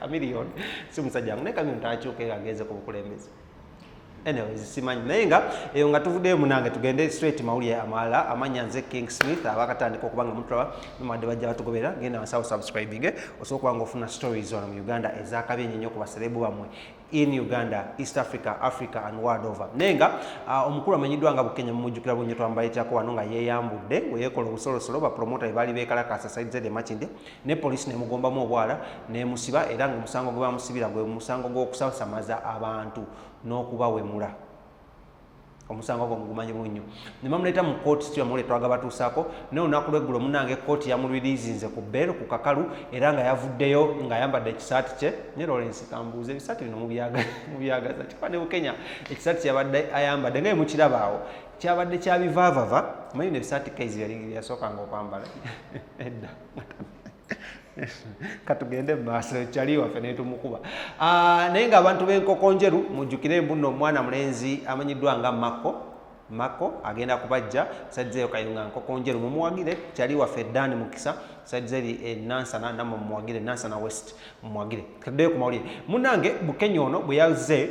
Chameleone si musajja wangu naye Chameleone tanakyuka era agenze ku bukulembeze anyways simanyi naye nga eyo nga tuvuddeyo munange tugende straight mawulire amalala amanya nze king smith abakatandika okuba nga mutulaba nomade bajja batugobera genda wansawo subscribing eh? osobola okuba nga ofuna stories wano mu uganda ezakabi enyo nyo ku baserebu bamwe in uganda east africa africa and world over naye nga uh, omukulu amanyiddwa nga bukenya mumujjukira bunyo twambaletako wano nga yeyambudde weyekola obusolosolo bapromota ebaali bekalakasa side zed emakinde ne poliisi nemugombamu obwala nemusiba era nga omusango gwe bamusibira gwe musango gw'okusasamaza abantu n'okubawemula omusango gwo mugumanyi bubi nnyo ne bamuleeta mu kkooti situya muwule twaga batuusaako naye olunaku lweggulo munange kkooti yamulwiriizinze ku bbeero ku kakalu era nga yavuddeyo ng'ayambadde ekisaati kye ne lawrence kambuuza ebisaati bino mubyagaza kikuba ne bukenya ekisaati kye yabadde ayambadde nga yemukirabaawo kyabadde kyabivaavava manyi ne bisaati kaizi yali yasookanga okwambala edda katugende mumaaso ekyali waffe netumukuba ah, naye nga abantu benkoko njeru mujjukire mbuno omwana mulenzi amanyiddwa nga makko makko agenda kubajja saidizeyo kayunga nkoko njeru mumuwagire kyali waffe dan mukisa saidizeri enansana eh, namwe mumuwagire nansana west mumuwagire kaddeyo kumawulire munange bukenya ono bwe yazze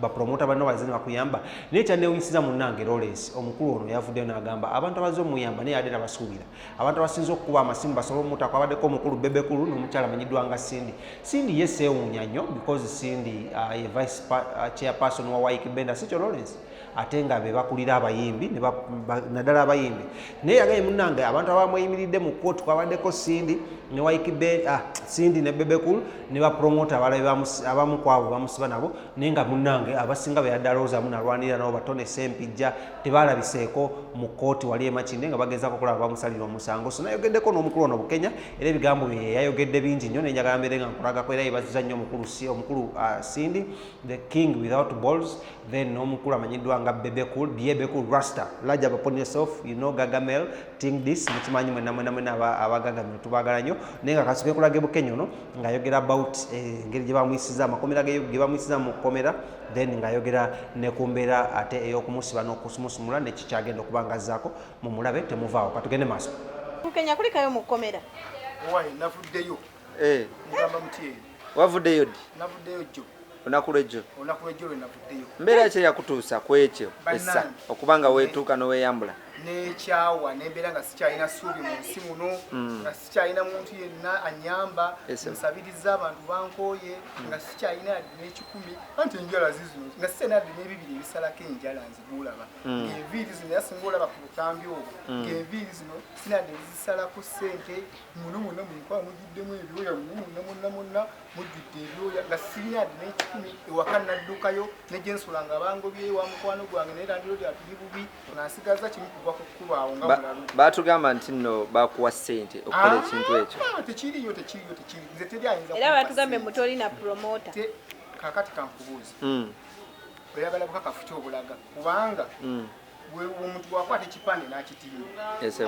bapromota banno bazina bakuyamba naye kyanewunyisiza munange lawrence omukulu ono yavuddeyo n'agamba abantu abaze omuyamba naye ade nabasuubira abantu abasinza okukuba amasimu basobola omutako abaddeko omukulu bebekulu n'omukyala manyiddwa nga cindy cindy ye seewuunya nnyo because cindy uh, ye vice uh, chairperson wa wike benda sikyo lawrence ate nga be bakulira abayimbi naddala abayimbi naye yagaye munange abantu abamweyimiridde mu kooti kwabaddeko cindy ne wike uh, cindy ne bebekulu ne bapromota abalabe abamu kwabo bamusiba nabo naye nga munange abasinga beyaddaloozamu nalwanirira nabo batone sempijja tebalabiseeko mu kkooti wali emakinde nga bagezako okulaba bamusalira omusango so nayogeddeko n'omukulu ono bukenya era ebigambo bye yayogedde bingi nnyo nenjagala mbeere nga nkulagako era yebaziza nnyo omukulu si omukulu uh, sindi the king without balls then n'omukulu amanyiddwa nga bebecool byebecool rasta laja upon yourself you know gagamel ting this mukimanyi mwena mwena mwena abagaga mwe tubagala nyo naye nga kasuke kulage bukenyo no nga yogera about eh, ngeri gye bamuyisiza amakomera ge gye bamuyisiza mu komera then nga yogera ne kumbera ate eyokumusiba n'okusumusumula nekyo kyagenda okubanga zako mu mulabe temuvaawo katugende maaso bukenya kulikayo mu komera why navuddeyo eh ngamba mutye wavuddeyo di navuddeyo jjo olunaku lwejjo olunaku lwejjo lwenavuddeyo mbeera ki eyakutuusa ku ekyo essa okuba nga weetuuka n'oweyambula nekyawa nembeera nga sikyalina suubi mu nsi muno hmm. nga sikyalina muntu yenna anyamba nsabiriza abantu bankooye hmm. nga sikyalina yadde n'ekikumi anti enjala zizino nga sikyalina yadde n'ebibiri ebisalako enjala nziguulaba hmm. ngaenviiri zino era singa olaba ku butambi obwo ngaenviiri zino sinadde zisalako ssente muno muno munkoa mugiddemu ebyoya muno muno munna munna mujjudde ebyoya nga sirina yadde n'ekikumi ewaka naddukayo ne gye nsula nga bangobye wa mukwano gwange naye landiroodi atuli bubi nga nsigaza kimu kuva ku kkubo awo nga mulalu baatugamba nti nno bakuwa ssente okukola ah, ekintu ekyo tekiriyo tekiriyo tekiri nze teri ayinza era baatugambye mu tolina promota kakati kankubuuza hmm. oyagala bukakafu kyobulaga kubanga hmm. omuntu bwakwata ekipande n'akitimba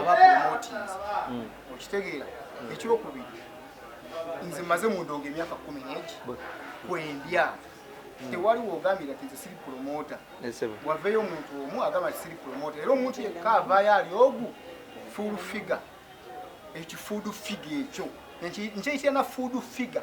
aba promotinzi mm. okitegeera mm. ekyokubiri nze maze mundonga emyaka kumi negi kwendya mm. tewaliwo ogambira ti nze siri promota waveeyo omuntu omu agamba ti siri promota era omuntu yekka avaayo ali ogu full figure ekifuudu figa ekyo nkyeyitira na fuudu figa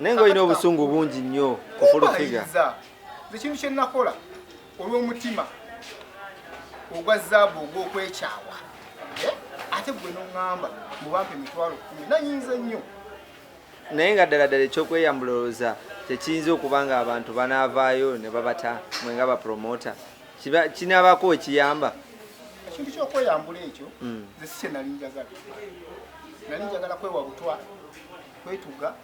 naye nga olina obusungu bungi nnyo kufulufiga ekintu kye nakola olw'omutima ogwa zaabu ogw'okwekyawa eh? ate gwe noŋŋamba mubampa emitwalo kumi nayinza nnyo naye nga ddala ddala ekyokweyambula olowooza kyekiyinza okuba nga abantu banaavaayo ne babata mwe nga bapromota kinaabako ekiyamba ekintu kyokweyambula ekyo hmm. ze si kye nali njagala nali njagala kwewa butwa kwetuga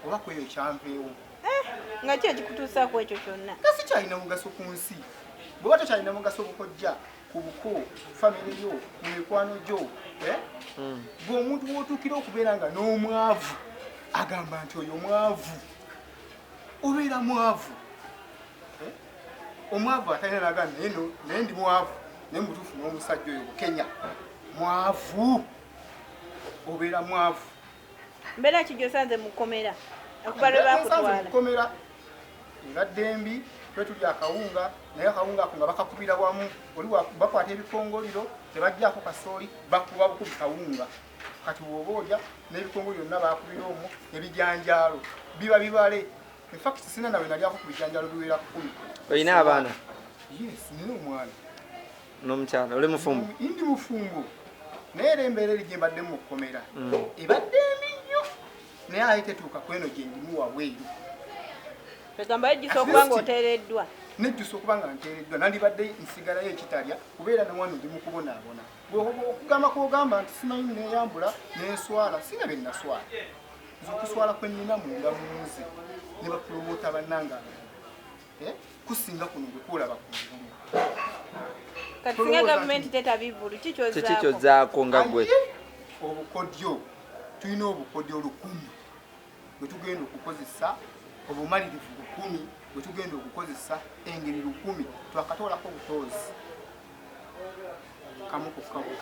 oba kweyo kyanveewo eh, nga ki ekikutuusa ku ekyo kyonna nga sikyalina mugaso ku nsi bweba tokyalina mugaso bukojja ku buko famire yo mu mikwano gyo eh? hmm. gwe omuntu wotuukira okubeera nga n'omwavu agamba nti oyo mwavu obeera mwavu eh? omwavu atalina naga naye ndi mwavu naye mutuufu n'omusajja oyo bukenya mwavu obeera mwavu Mbeera ki gy'osanze mu kkomera okuva lwe baakutwala? Mu kkomera ebadde mbi, twe tulya akawunga naye akawunga ako nga bakakubira wamu, oli bakwata ebikongoliro tebajjaako kasooli, bakuba bukubi kawunga. Kati wooba olya n'ebikongo byonna baakubira omwo, ebijanjaalo biba bibale. In fact sina nawe nalyako ku bijanjaalo biwera kkumi. Olina abaana? Yes, nina omwana. n'omukyala oli mufumbo ndi mufumbo naye era embeera eri gyembadde mu kkomera mm. ebadde embi nnyo naye aye tetuuka kweno gyendimu wabweru egamba yejjusa okuba nga oteereddwa nejjusa okuba nga nteereddwa nandibadde nsigalayo ekitalya kubeera nawano ndi mukubonaabona okugamba kwogamba nti simanyi neyambula nenswala sina bye naswala nze okuswala kwenina munda munze ne bapulomota bannange eh, kusinga kuno gwekwolaba kungulu kikyozaako nga gwe obukodyo tulina obukodyo lukumi bwetugenda okukozesa obumalirivu lukumi bwetugenda okukozesa engeri lukumi twakatoolako obutoozi kamu kukawo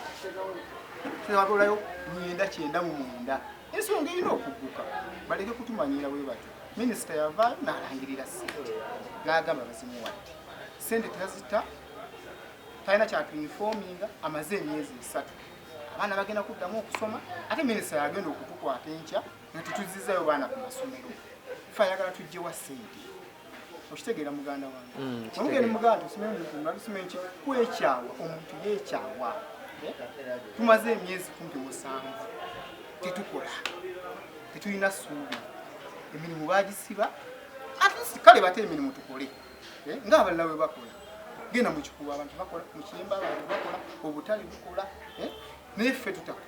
tulabaolayo luyenda kyenda mu munda ensonga erina okugguka baleke kutumanyiira bwe batyo minisita yava n'alangirira sente n'agamba bazimuwadde sente tazita talina kyatuinfominga amaze emyezi esatu abaana bagenda kuddamu okusoma ate minisita yagenda okutukwata enkya nga tetuzizayo baana ku masomero fe ayagala tujjewa sente okitegeera muganda wange mm, omugeni muganda tusimenki kwekyawa omuntu yekyawa eh? tumaze emyezi kumpi musanvu tetukola tetulina suubi emirimu bagisiba atisi kale bate emirimu tukole eh? nga abalala we bakola genda mukikuba abantu bakola mukiyemba abantu bakola obutale bukola eh? naye ffe tutakola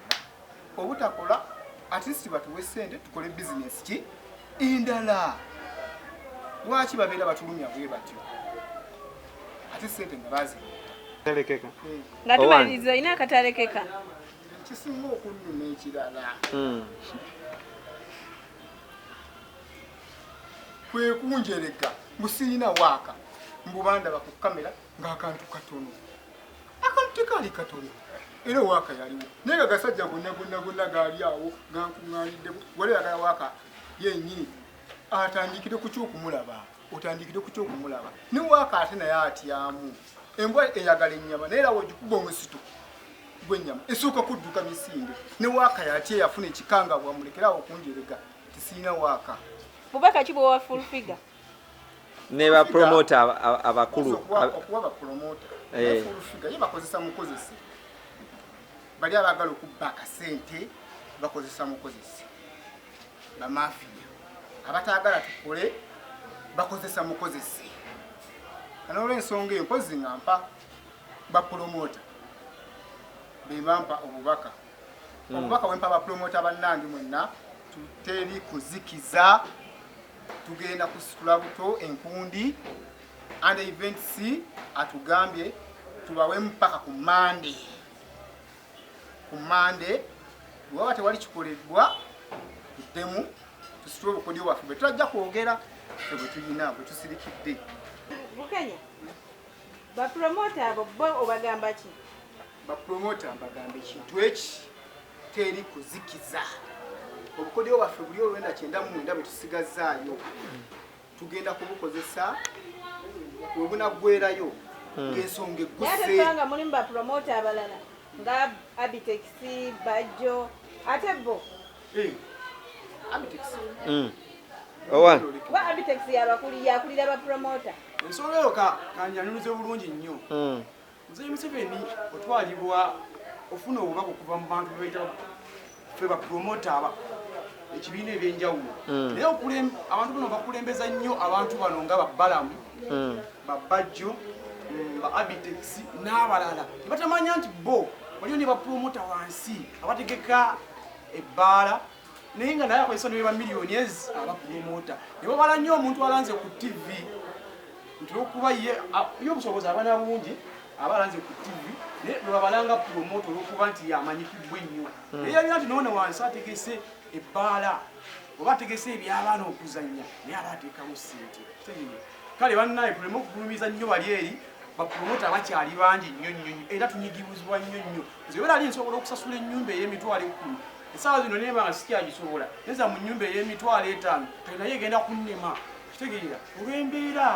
obutakola at least batuwe sente tukole business ki endala lwaki babeera batulumya bwe batyo ate sente nga bazina talekeka hmm. nga tumaliriza olina akatalekeka kisinga okunnuma ekirala hmm. kwekunjereka musirina waaka mbubandaba ku kamera ng'akantu katono akantu tekaali katono era waaka yaliwo naye nga gasajja gonna gonna gonna gaali awo gankuŋŋaanidde wali agala waaka yennyini atandikire ku kyokumulaba otandikire ku kyokumulaba ne waaka ate naye atyamu embwa eyagala ennyama naye era wogikuba omusito gwennyama esooka kudduka misinde ne waaka yatya eyafuna ekikangabwa mulekerawo okunjerega tisirina waaka bubaka ki bwowa full figure ne ba promoter abakulu okuwa ba promoter eh full figure yebakozesa mukozese bali abagala okubba akasente bakozesa mukozese bamafiya abatagala tukole bakozesa mukozese anolwensonga eyo mpozi nga mpa bapulomota bebampa obubaka hmm. obubaka wempa bapulomota bannange mwenna teri kuzikiza tugenda kusitula buto enkundi and events atugambye tubawemu paka ku mande ku mande waba tewali kikoleddwa tuddemu tusitule obukodyo bwaffe bwe tulajja kwogera fe bwe tulina bwe tusirikidde Ba promoter abo bo obagamba ki? Ba promoter mbagamba ekintu eki teri kuzikiza obukodyo bwaffe buli olwenda kyenda mu mwenda bwe tusigazzaayo tugenda kubukozesa we bunaggwerayo hmm. ng'ensonga egguseanga mulimu ba promoter abalala nga abitex bajjo ate bo Mm. Owa. Wa Abitex ya bakuli ya kulira ba promoter. Nsolo yo ka kanyanuze bulungi nnyo. Mm. Nze Museveni otwalibwa ofuna obubaka okuva mu bantu bebayita fe ba promoter aba ekibiina ebyenjawulo mm. naye abantu bano bakulembeza nnyo abantu bano nga babbalamu mm. babbajjo mm, ba abitex n'abalala nebatamanyi nti bo waliyo ne bapromota wansi abategeka ebbaala naye nga naye akozesa neba miliyoni ezi abapromota ne babala nnyo omuntu alanze ku tv nti olwokuba ye obusobozi aba nabungi aba alanze ku tv naye nebabalanga promota olwokuba nti yamanyikibwa ennyo hmm. naye yabira nti noona wansi ategese ebbaala oba ategese ebyabaana okuzannya naye aba ateekamu sente kale bannaye tuleme okugulumiza nnyo bali eri bapromota bakyali bangi nnyo nnyo era tunyigibuzibwa nnyo nnyo nze wera ali nsobola okusasula ennyumba ey'emitwalo ekkumi esaawa zino neeba nga sikyagisobola neza mu nnyumba ey'emitwalo etaano kati naye egenda kunnema kitegeera olw'embeera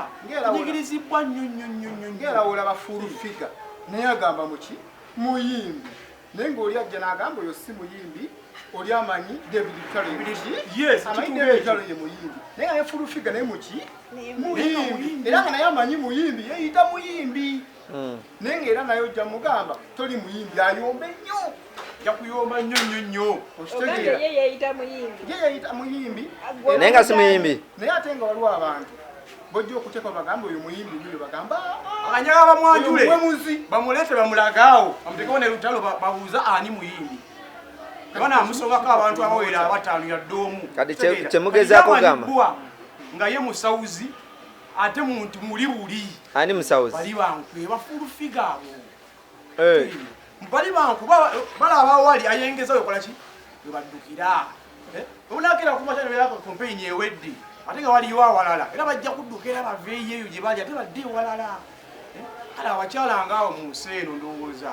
nyigirizibwa nnyo nnyo nnyo nnyo ngeera wolaba full figa naye agamba muki muyimbi naye ng'oli ajja n'agamba oyo si muyimbi oli amanyi david bitaloamanyidavidbitalo ye muyimbi naye nga ne full figa naye muki muyimbi era nga naye amanyi muyimbi yeyita muyimbi hmm. naye nga era naye ojja mugamba toli muyimbi ayombe nnyo yakuyomba nnyo nnyo nnyo okitegeera ye yeyita muyimbi naye nga si muyimbi naye ate nga waliwo abantu bojja okuteeka bagamba oyo muyimbi nyo bagamba anyaga bamwanjule bamuleete bamulagaawo bamutekewo ne lutalo babuuza ani muyimbi bana amusongako abantu abawera abataano yadde omu kati kyemugezako gamba nga ye musawuzi ate muntu muli wuli ani musawuzi bali bankwe bafulu figa abo eh bali banku bala abawali ayengeza okola ki webadukira eh unakira kuma channel yako campaign yeweddi ate nga wali wa walala era bajja kudukira bave yeyo je bali ate badde walala eh kala abachala ngawo mu nseno ndowoza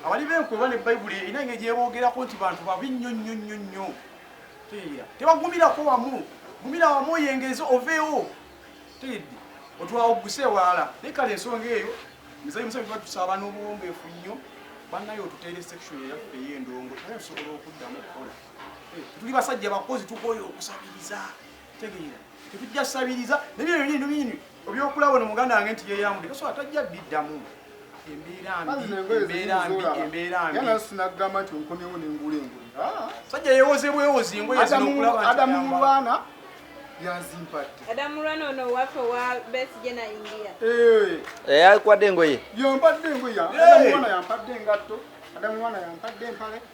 abali benkwe bane bible ina ngeje bogera ko nti bantu babi nyo nyo nyo nyo Tegeera. Tebagumirako wamu. Gumira wamu oyengeze oveewo. Tegedde. Otwawo oguse ewalala. Naye kale ensonga eyo Mzee Museveni tuba tusaba n'obuwombeefu nnyo bannaye otuteere section eyaffe ey'endongo naye tusobola okuddamu okukola. Eh, tuli basajja bakozi tukooye okusabiriza. tegeera tetujja sabiriza nebyo bintu bini obyokula wano muganda wange nti yeyamude kasobola tajja biddamu sajja yewoze bwewozi ngoadamu mulwana yanzimpatteyakwade engoye yampadde engoye adamu mwana yampadde engoye adamu mwana yampadde engoye